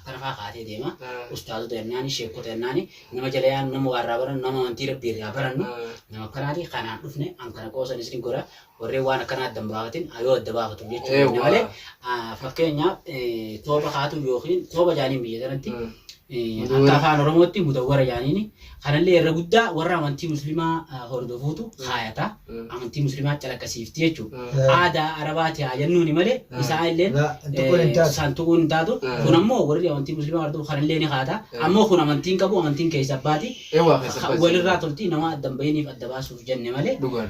Akka rafaa kaatee deema. Ah. Ustaazota jennaani, sheekota jennaani, nama jala yaanu, nama waa irraa barannu, nama amantii Rabbii irraa barannu, Ah. nama akkanaati kanaan dhufne an kana qoosan isin godha warreen waan akkanaa adda hin baafatin yoo adda baafatu jechuu Eewwa. keenya malee ah, fakkeenyaaf eh, tooba kaatu yookiin tooba jaaniin biyya sanatti Mm. eh, Mudawwara. akka afaan oromootti mudawwara jaaniini Kanallee irra guddaa warra amantii muslimaa hordofuutu kaayata. Amantii muslimaa calaqqisiifti jechuudha. Aadaa Arabaati haa jennuuni malee isaa illeen san tuquun hin taatu. Kun ammoo warri amantii muslimaa hordofu kanallee ni kaata. Ammoo kun amantiin qabu amantiin keessa abbaati. Walirraa tolti nama adda hin bahiniif adda baasuuf jenne malee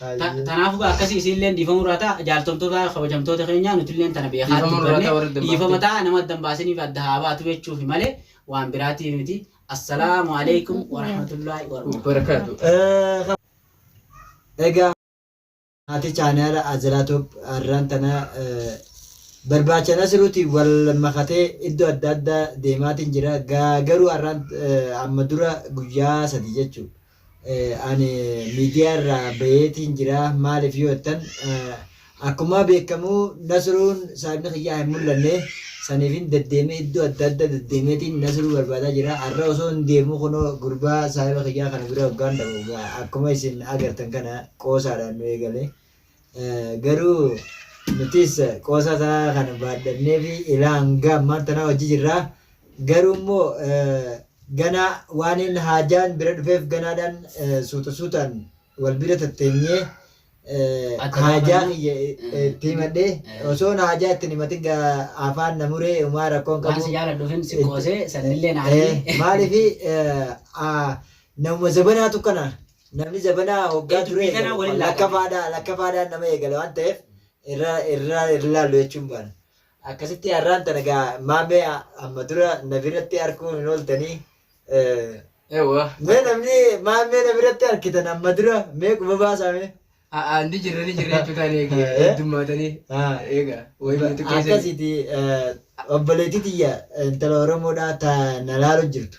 Hayyee. Tanaafu gaa akkasi isiinleen dhiifamuu irraa ta'a jaaltomtoota kabajamtoota keenyaa nutilleen tana beekaa Dhiifama nurraa dubbanne ta'a warri adda hin dhiifama baafne. ta'a nama adda hin baasiniif adda haa baatu jechuufi malee waan biraatiif miti assalaamu alaikum warahmatullaahi warahmatullaahi Barakaatu. Eh, ka- Egaa maatii chaanaala Azalaa Toop har'aan tana eh, barbaacha Nasiruuti wal makatee iddoo adda addaa deemaatiin jira. Gaa garuu har'aan eh, amma dura guyyaa sadii jechuudha. ani miidiyaa irraa bayeetiin jira maaliif yoo jettan akkumaa beekamu nasruun saayibni kiyyaa hin mul'anne saniifin deddeemee iddoo adda adda deddeemeetiin nasruu barbaadaa jira har'a osoo hin deemuu kunoo gurbaa saayiba kiyyaa kana bira hoggaan dhabu akkuma isin agartan kana qoosaadhaan nu eegale. garuu nutis qoosaa isaa kana baadhannee fi ilaa hanga ammaan tanaa hojii jirra. Garuu immoo ganaa waan inni haajaan bira dhufeef ganaadhaan suuta suutaan wal bira tatteenyee haajaa kiyya itti himadhee osoo haajaa itti himatin afaan na muree umaa rakkoon qabu. Waan si jaaladhuufin si qoosee sannillee naanii. Maaliif namuma zabanaatu kana Namni zabana hoggaa Ee, duree dubbii kanaa eegalu waliin laata? lakkafaadhaa lakkafaadhaan nama eegala waan ta'eef irra irra irra laallu jechuun baana. Akkasitti har'aan tana gaa maamee amma dura na biratti arguun hin ooltanii eh, Ewa. mee namni maamee na biratti argitan amma dura mee quba baasaame. Haa ni jirra ni jirra jechuudha ani eegi Eh? heddummaatanii. Ah. Eega wayii nuti keessan. Akkasitti eh, obboleettii tiyya intala Oromoodhaa ta na laalu jirtu.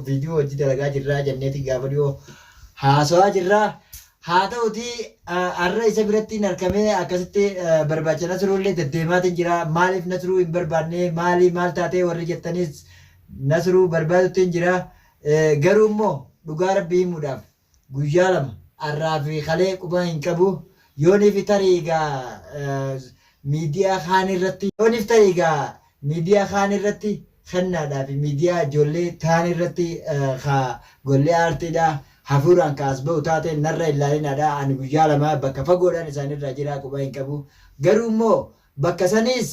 Viidiyoo hojii dalagaa jirraa jenneeti gaafa dhiyoo haasawaa jirra. Haa ta'utii har'a isa biratti hin arkamee akkasitti barbaacha Nasruullee deddeemaatiin jira. Maaliif Nasruu hin barbaanne maali maal taatee warri jettaniis Nasruu barbaaduttiin jira. Garuu immoo dhugaa rabbii himuudhaaf guyyaa lama arraa fi kalee quba hin qabu yooniif tarii egaa miidiyaa kaan irratti yooniif tarii egaa miidiyaa kaan irratti kennaadhaa fi miidiyaa ijoollee taan irratti ka gollee aartiidhaa hafuuraan ka as ba'u taate narra hin laalinaadhaa ani guyyaa lama bakka fagoodhaan isaanirraa jiraa quba hin qabu garuu immoo bakka saniis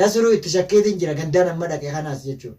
nasruu itti shakkeetiin jira gandaan amma dhaqe kanaas jechuudha.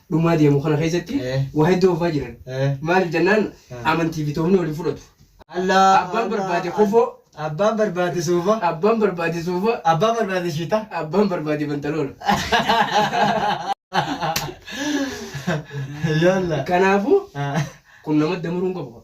dhumaa deemu kana keessatti Eh. waa hedduu hafaa jiran. Eh. Maaliif jennaan Eh. amantii fi toofni wal hin fudhatu. Allah Abbaan barbaade kofoo. Abbaan barbaade suufa. Abbaan barbaade suufa, Abbaan barbaade shiita. abbaan barbaade bantaloola. Yalla. Kanaafuu kun nama damaruu hin qabu.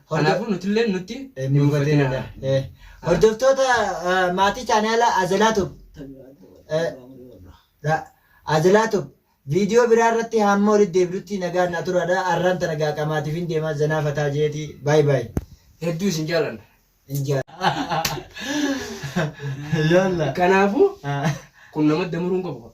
Kanaafuu nutilleen nutti hin mufatina. Hordoftoota maatii chaanaala Azalaatub Azalaatub viidiyoo biraa irratti hamma walitti deebinutti nagaan naa turaadha. Arraan tana gaa qamaatiif hin deema zanaa fataa jeeti. Baay baay. Hedduu isin jaalanna. Injaa. Yalla. Kanaafuu kun nama damuruun qabu.